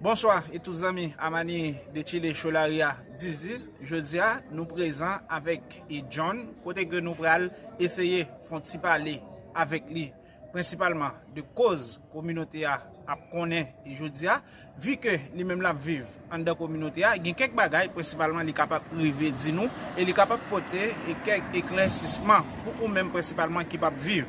Bonswa e tout zanmi Amani de chile cholaria 10 10 jodia nou prezan avèk e John kote ke nou pral eseye fon ti pale avèk li prensipalman de koz kominote a ap konnen e jodia vi ke li menm lap viv anndan kominote a gen kèk bagay prensipalman li kapab rive di nou e li kapab pote e kèk eklèsisman pou ou menm prensipalman ki pap viv.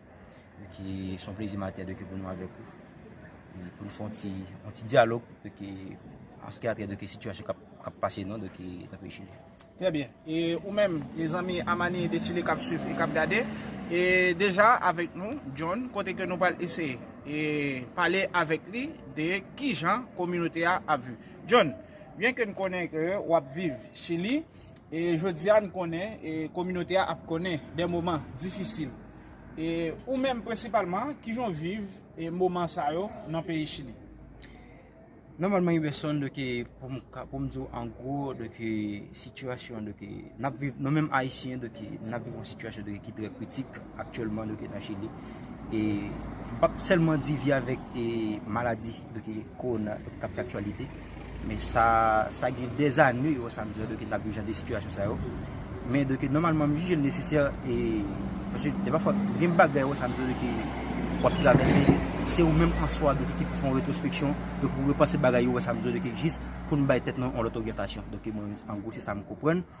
Son plezi matè de ke pou nou avèk ou. Pou nou fon ti dialog de ke anske atè de ke situasyon kap pase nan de ke nan peyi Chili. Trè byen. E ou menm, e zanmi Amani de Chili kap swiv e kap gade. E deja avèk nou, John, kote ke nou pral eseye. E pale avèk li de ki jan kominote a ap viv. John, byen ke nou konnen ke wap viv Chili. E jodi a n konnen e kominote a ap konnen dè moman difisil. E ou menm prensipalman kijan w viv e moman sa yo nan peyi Chili? Nòmalman Iwerson de ke pou m ka pou m di w an gwo de ke sitiyasyon de ke n ap viv nou menm ayisyen de ke n ap viv yon sitiyasyon de ke ki trè kritik. Aktyèlman nou te nan Chili e m pap sèlman di vi avèk maladi doki kowona k ap fè aktyalite men sa gen dèzane yo sa m di w doki n ap viv jan de sitiyasyon sa yo men doki nòmalman m jije l nesesè e paske de pafwa gen bagay yo sa m di w doki w ap travèse se ou menm an swa doki ki pou fè yon retrospeksyon doki pou repanse bagay yo sa m di w doki jis pou n bay tèt nou yon lòt oryantasyon doki mwen an gwo se sa m konprann.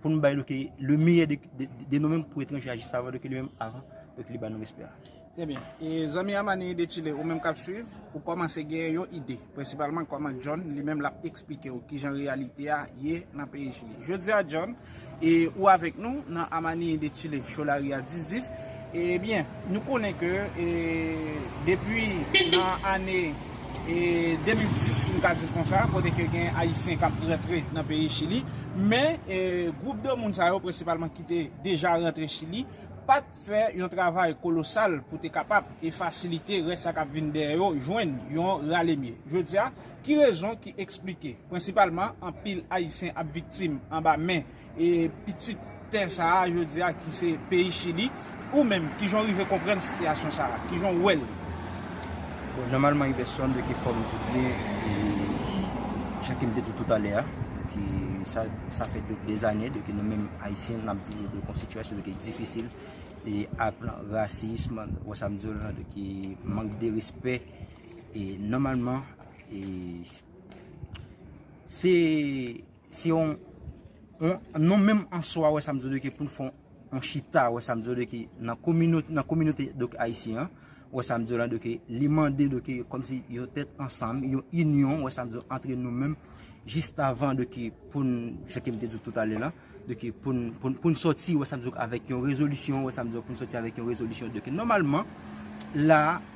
Pou nou bay nou ke le meyè de nou menm pou etranje a jis avan nou ke li menm avan pou ke li ba nou respè a. Trè byen. E zanmi Amani de Chile ou menm kap swiv, ou kòmanse genyen yon ide, prensipalman kòman John li menm lap eksplike ou kijan reyalite a ye nan peyi Chili. Jodi a John, e ou avèk nou nan Amani de Chile Cholaria 1010. Ebyen, nou konnen ke depi nan ane 2010, m ka di l konsa, kote ke gen Ayisyen k ap rantre nan peyi Chili, men gwoup de moun sa yo, prensipalman ki te deja rantre Chili, pa t fè yon travay kolosal pou te kapab e fasilite rès sa k ap vin dèyè yo jwenn yon ralemye. Jodi a, ki rezon ki esplike, prensipalman, anpil Ayisyen ap viktim anba men. E pitit tè sa a jodi a ki se peyi Chili, ou menm kijan w rive konprann sitiyasyon sa a? Kijan w wè l? Bon, nòmalman yon pèsòn dwe gen fòm di byen e jan ke m te di w toutalè a, ke sa, sa fè dè zane ke nou menm Ayisyen n ap viv yon sitiyasyon ki difisil e ak rasism, wè sa m di w la, ke mank de respè e nòmalman e se. Se yon, nou menm an swa wè sa m di w de ke pou n fè yon chita wè sa m di w de ke nan kominote, nan kominote donk ayisyen an, wè sa m di w la de ke li mande de ke kòm si yon tèt ansanm, yon inyon wè sa m di w antre nou menm jistavan de ke pou n, jan ke m te di w toutalè la, de ke pou n, pou n sòti wè sa m di w avèk yon rezolisyon wè sa m di w pou n sòti avèk yon rezolisyon de ke nòmalman la.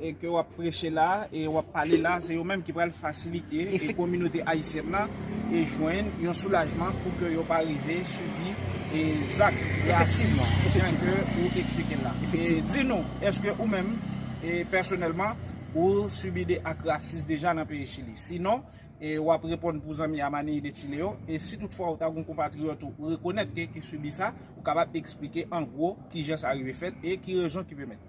e ke wap preche la e wap pale la se yo menm ki pral fasilite e kominote ayisyèn nan e jwenn yon soulajman pou ke yo pa rive sibi e zak rasis jan ke ou eksplike la e di nou eske ou menm e pèsonèlman ou sibi de ak rasis deja nan peyi chili si non e wap reponn pou zanmi a manille de chile yo e si tout fwa ou ta gon konpatriyòt ou rekonèt ke ki sibi sa ou kapab eksplike an gwo kijan sa rive fèt e ki rezon ki pèmèt.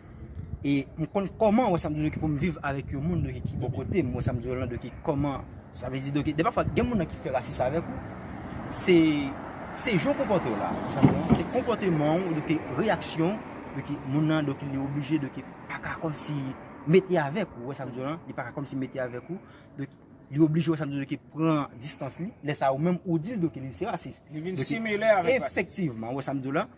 E m konn kòman wè samdi yo ki pou m viv avèk yon moun ki bò kote m wè samdi yo lan do ki kòman sa vle di do ki de pa fwa gen moun nan ki fè rasis avèk ou se se jan w konpòte w la ou sa m di se konpòteman w do ki reyaksyon do ki moun nan do ki li oblije do ki pa ka kòm si mete avèk ou wè samdi yo lan li pa ka kòm si mete avèk ou do ki li oblije wè samdi yo do ki pran distans li lè sa ou menm ou di l do ki li se rasis li vin simile avèk rasis efektivman wè samdi yo lan.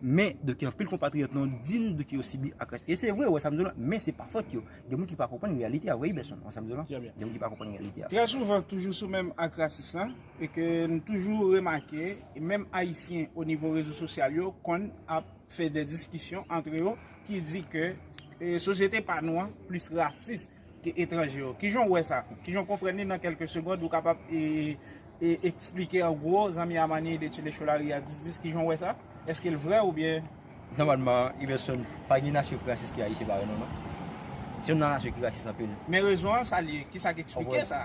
Men, de ki anpil konpatriyòt nou di n de ki yo sibi ak rès. E se vre, ou wè sa m di w la, men se pa fòt yo. Gen moun ki pa konprann reyalite a vre Iberson, ou wè sa m di w la. Trè byen. Gen moun ki pa konprann reyalite a. Trè souvan, toujou sou menm ak rasis lan, e ke n toujou remake, menm Ayisyen o nivo rezo sosyal yo konn ap fè dè diskisyon antre yo ki di ke sosyete pa nou an plis rasis ke etranje yo. Kijan ou wè sa? Kijan ou konprann li nan kelke segond ou kapab esplike an gwo zanmi a manyen ide Tchele Cholari a di dis kijan ou wè sa? Eske l vrè oubyen? Nòmalman Iverson pa gen nasyon ki rasis ke Ayisyen pa wè non non. Se youn nan nasyon ki rasis anpil. Men rezon an sa li ye? Kisa k esplike sa?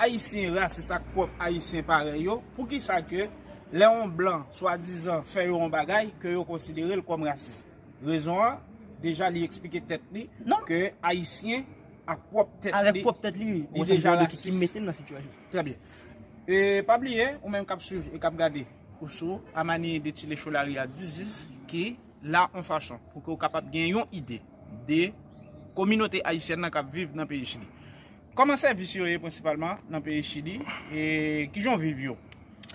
Ayisyen rasis ak pwòp Ayisyen parèy yo, poukisa ke lè yon blan swadizan fè yo yon bagay ke yo konsidere l kòm rasis? Rezon an, deja li eksplike tèt li ke Ayisyen ak pwòp tèt li, li deja rasis. Trè byen. E pa bliye, ou menm k ap swiv e k ap gade, ou sou A Manier de Thillé Cholaria Dizis ki la yon fason pou ke ou kapab gen yon ide de kominote Ayisyèn nan k ap viv nan peyi Chili. Kòman sèvis yo ye prensipalman nan peyi chili e kijan w viv yo?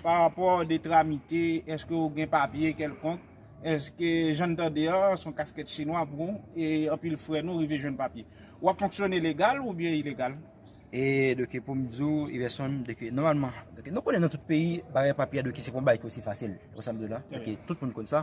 Parapò de tramite, eske w gen papye kèlkonk? Eske jan n tande an son kaskèt chinwa pou w e anpil frè nou rive jwenn papye? Wap fonksyone legal oubyen ilegal? E doki pou m di w Iverson doki nòmalman doki nou konnen nan tout peyi bagay papye a doki se pa yon bagay ki osi fasil ou sa m di w la doki tout moun konn sa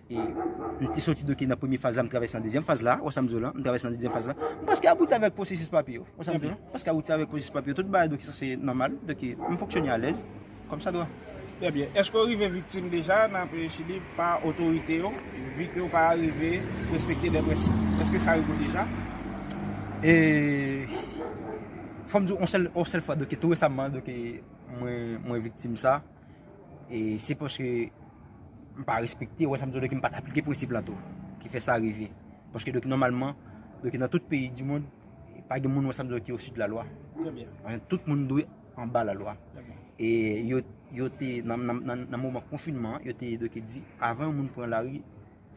Mte soti doke nan premye faz la m travèse nan dezyèm faz la, wè sam di w lan, m travèse nan dezyèm faz la, m preske abouti avèk pwosesis papye yo, wè sam di w lan, m preske abouti avèk pwosesis papye yo, tout bagay doke sa se nòmal, doke m fonksyone alèz, kòm sa dwa. Trè byen, èske w rive viktim deja nan peyi Chili pa otorite yo, vi ke w pa rive respekte dè prensip, èske sa rive w deja? E, fò m di w on sèl fwa, doke tou resamman doke mwen viktim sa. E se paske m pa respekte, wè sa m di w la, m pa t aplike prensip la tou, ki fè sa rive. Paske doki nòmalman, doki nan tout peyi di moun, pa gen moun wè sa m di w la ki osi de la lwa. Tout moun dwe anba la lwa. E yo te, nan moman konfinman, yo te doki di, avan yon moun pran la ri,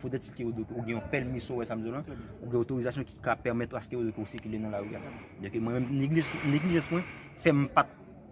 foudè ti ke ou doki, ou gen yon pèl miso wè sa m di w la, ou gen otorizasyon ki ka pèmèt aske ou doki ou sikile nan la ri. Doki mwen, neglijans mwen, fè m pa t.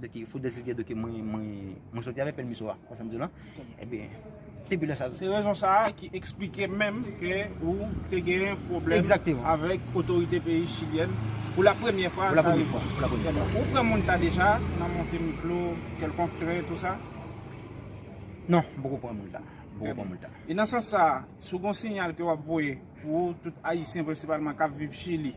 Dèke fo dèzi gè dèke mwen mwen mwen soti avè pèmiso a. Wè sa m di w la? Ebyen, depi lè sa. Se rezon sa a ki eksplike menm ke ou te gen pwoblèm. Egzakteman. Avèk otorite peyi chilyèn pou la premyè fwa sa rive. Pou la premyè fwa. Pou la premyè fwa. Ou pran moun ta deja nan monte miklo, kèlkonk tren, tou sa? Non, m poko pran moun ta. M poko pran moun ta. E nan sans sa a, si w gen yon sinyal ke w ap voye pou tout Ayisyen prensipalman k ap viv Chili.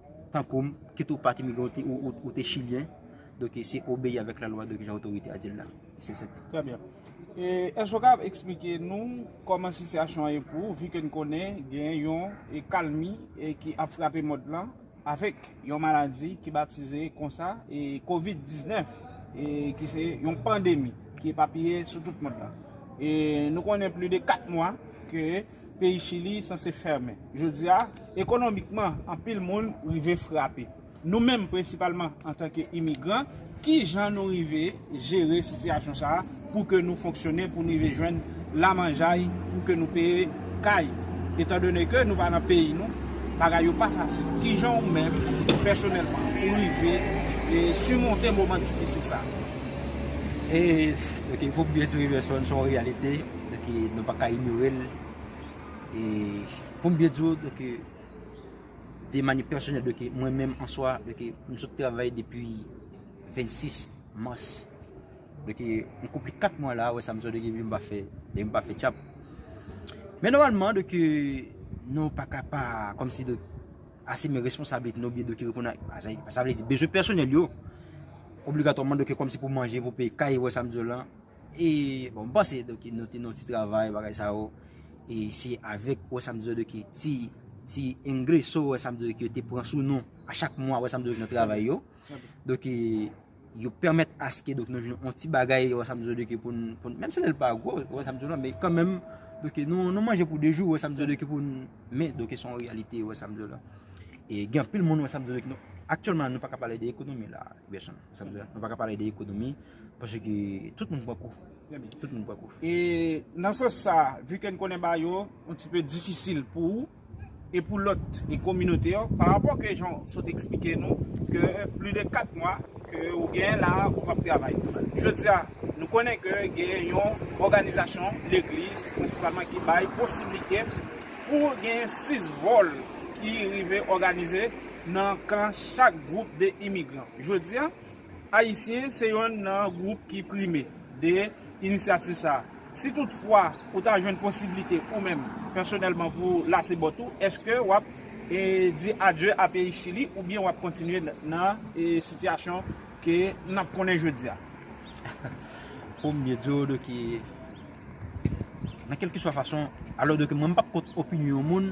tankou m, kit ou pat imigran ou te chilyen, donk se obeyi avèk lalwa donk jan otorite a di l la. Se sa. Trè byen. E èske ou kab eksplike nou kòman sitiyasyon an ye pou ou, vi ke n konnen gen yon kalmi ki ap frape mond lan avèk yon maladi ki batize konsa e kovid 19 e ki se yon pandemi ki epapiye sou tout mond lan. E nou konnen pli de 4 mwa ke. Peyi Chili sanse fèmen jodi a. Ekonomikman, anpil moun rive frape. Nou menm, prensipalman antanke imigran, ki jan nou rive jere sitiyasyon sa a pou ke nou fonksyone, pou nou rive jwenn lamanjay pou ke nou peye kay? Etan done ke nou pa nan peyi nou, bagay yo pa fasil. Ki jan ou menm, pèsonèlman, ou rive simonte moman difisil sa a? E, ok, pou byen tou Iverson, se yon reyalite. Donk e nou pa ka inyore l. E pou m byen di w, donk e de mani pèsonèl, donk e mwen menm an swa, donk e m sot travay depi 26 mas. Donk e m konpli 4 mwa la, wè sa m di w, donk e m pa fè, donk e m pa fè tchap. Men nòmalman, donk e nou pa ka pa, kòm si donk, asime responsabilite nou byen donk e reponn a, sa vle di bezwen pèsonèl yo. Obligatòman donk e kòm si pou manje, pou peye kay, wè sa m di w lan. E bon m panse do ki nou te nou ti travay bagay sa yo E se avèk wè sa m di yo do ki ti Ti engreso wè sa m di yo ki yo te pran sou nou A chak mwa wè sa m di yo nan travay yo Do ki yo pèmèt aske do ki nou jwenn yon ti bagay wè sa m di yo do ki pou n Menm si lè l pa gwo wè sa m di yo la men kan menm Do ki nou nou manje pou 2 jou wè sa m di yo do ki pou n Men do ki son reyalite wè sa m di yo la E gen anpil moun wè sa m di yo do ki nou Aktyèlman nou pa ka pale de ekonomi la Gèson. Sa vle di nou pa ka pale de ekonomi paske tout moun pran kou. Tout moun pran kou. E nan sans sa, vu ke n konnen bagay yo yon ti peu difisil pou ou e pou lòt e kominote yo, pa rapò ke jan w sot eksplike nou ke pli de 4 mwa ke ou genyen la a ou pap travay. Jodi a, nou konnen ke genyen yon òganizasyon legliz prensipalman ki bay posiblite pou genyen 6 vòl ki rive òganize nan kan chak gwoup de imigran. Jodi a, Ayisyen se yonn nan gwoup ki prime de inisyativ sa a. Si tout fwa ou ta jwenn posiblite ou menm pèsonèlman pou w lase bòt ou, èske w ap di adye a peyi Chili oubyen w ap kontinye nan sitiyasyon ke n ap konnen jodi a? Pou m byen di w de ke nan kèlkeswa fason, alò de ke mwen m p ap kont opinyon moun,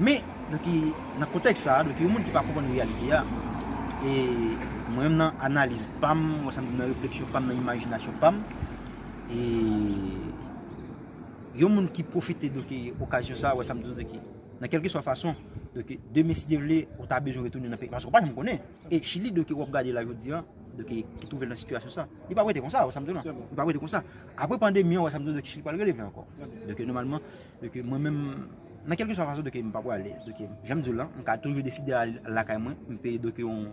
Men, nan kontèks sa a, donk yon moun ki pa konprann reyalite a, e mwen menm nan analiz pa m, wè sa m di nan refleksyon pa m, nan imajinasyon pa m, e yon moun ki pwofite donk okazyon sa a, wè sa m di donk nan kèlkeswa fason, donk demen si Dye vle, ou ta bezwen retounen nan peyi, paske ou pa janm konnen. E Chili donk w ap gade la jodi a, donk ki twouve l nan sitiyasyon sa a, li p ap rete konsa, wè sa m di w la, li p ap rete konsa. Apre pandemi an, wè sa m di w la, Chili pa l releve ankò. Donk nòmalman, Dòk mwen menm, nan kèlke swa fason dòk m pa prale. Dòk jan m di w lan, m ka toujou deside al lakay mwen, m peye dòk yon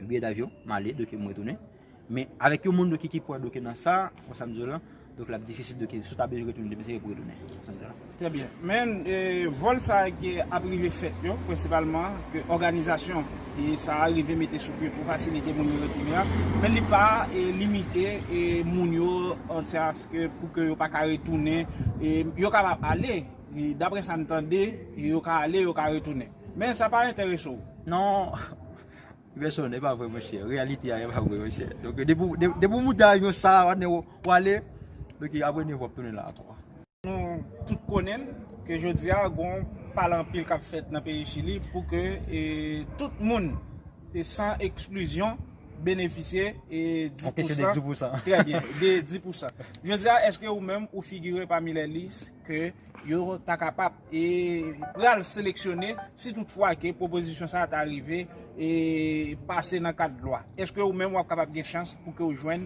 biyè davyon, m ale dòk m retounen. Men avèk yon moun dòk ki pwè dòk nan sa, kon sa m di w lan, dòk l ap difisil dòk si w ta bezwen retounen demen se yo pou retounen. Kon sa m di w lan. Trè byen. Men vòl sa a ki ap rive fèt yo, prensipalman ke òganizasyon sa a rive mete sou pye pou fasilite moun yo retounen an, men li pa limite moun yo antya. Pou ke yo pa ka retounen. Yo kapab ale. Dapre sa m tande, yo ka ale, yo ka retounen. Men sa pa enterese w. Non. Iverson, e pa vre monchè. Reyalite a e pa vre monchè. Donk depi w moute avyon sa a, patnè, w ale. Donk apre 9 w ap tounen la ankò. Nou tout konnen ke jodi a gon pale anpil k ap fèt nan peyi Chili pou ke tout moun, san eksklizyon. benefisye e di pou san. Anpeche de 10 pou san. Trè byen, de 10 pou san. Jodi a, eske ou menm ou figire pami lè lis ke yo ta kapap e pral seleksyone si tout fwa ke pwopozisyon sa ta rive e pase nan kad lwa? Eske ou menm wap kapap gen chans pou ke ou jwenn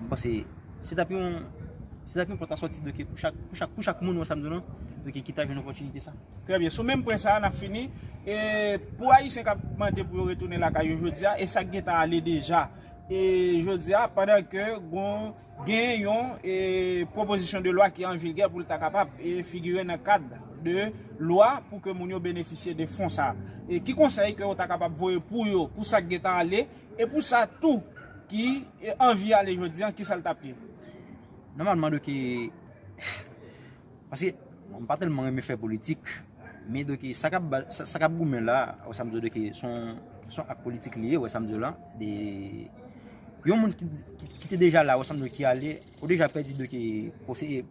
M panse se tap yon se tap yon pòt a sòti dòke pou chak pou chak pou chak moun wè sa m di w lan dòke ki ta jwenn opòtinite sa. Trè byen, sou menm pwen sa a n ap fini. E pou Ayisyen k ap mande pou yo retounen lakay yo jodi a e sa k gentan ale deja e jodi a pandan ke gon gen yon e pwopozisyon de lwa ki an vigè pou l ta kapab e figire nan kad de lwa pou ke moun yo benefisye de fon sa a. E ki konsèy ke ou ta kapab voye pou yo pou sa k gentan ale? E pou sa tou ki anvi ale jodi an kisa l tap ye? Nòmalman doki paske m pa tèlman renmen fè politik men doki sa kap goumen la wè sa m di w doki son ak politik li ye wè sa m di w la de yon moun ki te deja la wè sa m di w ki ale ou deja pèdi doki konseye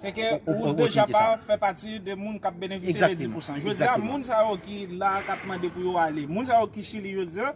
Sèke ou deja pa fè pati de moun kap benefisye de 10% Jodi a moun sa yo ki la kap mande pou yo ale moun sa yo ki chili jodi an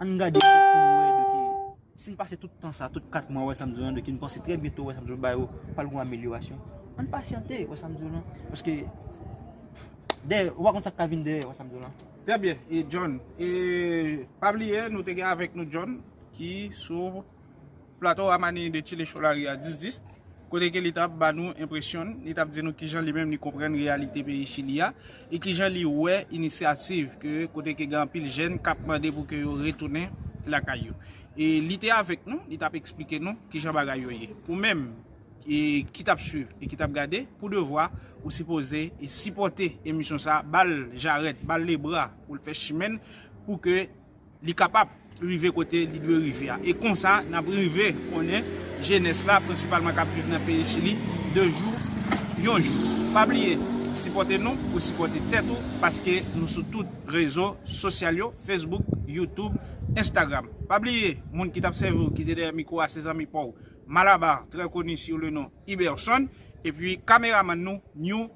An n gade pou n wè de ke si n pase tout tan sa, tout 4 mwa wè sa m di w lan de ke n panse trè byento wè sa m di w lan ba yo pral gen yon amelyorasyon. An n pasyante wè sa m di w lan. Paske dèyè ou pa konn sa k ka vin dèyè wè sa m di w lan. Trè byen, John. E pa bliye nou te gen avèk nou John ki sou. Plato a manyen de Chile Cholari a dis dis, kote ke li t ap ba nou enpresyon n, li t ap di nou kijan li menm li konprann reyalite peyi Chili a, e kijan li wè inisyativ ke kote ke gen anpil jèn k ap mande pou ke yo retounen lakay yo. E li te avèk nou, li t ap eksplike nou kijan bagay yo ye. Ou menm e ki t ap swiv e ki t ap gade, pou devwa, ou sipoze e sipòte emisyon sa, ba l jarèt, ba l lebra pou l fè chimen n, pou ke li kapab rive kote li dwe rive a. E konsa, n ap rive konnen jenès la, prensipalman k ap viv nan peyi Chili, de jou yon jou. Pa bliye sipòte nou pou sipòte tèt ou, paske nou sou tout rezo sosyal yo, Facebook, YouTube, Instagram. Pa bliye, moun ki t ap sèvi w, ki te dèyè mikwo a, se zanmi pa w, Malabar, trè koni sou le non Iberson, epi kameramann nou, New.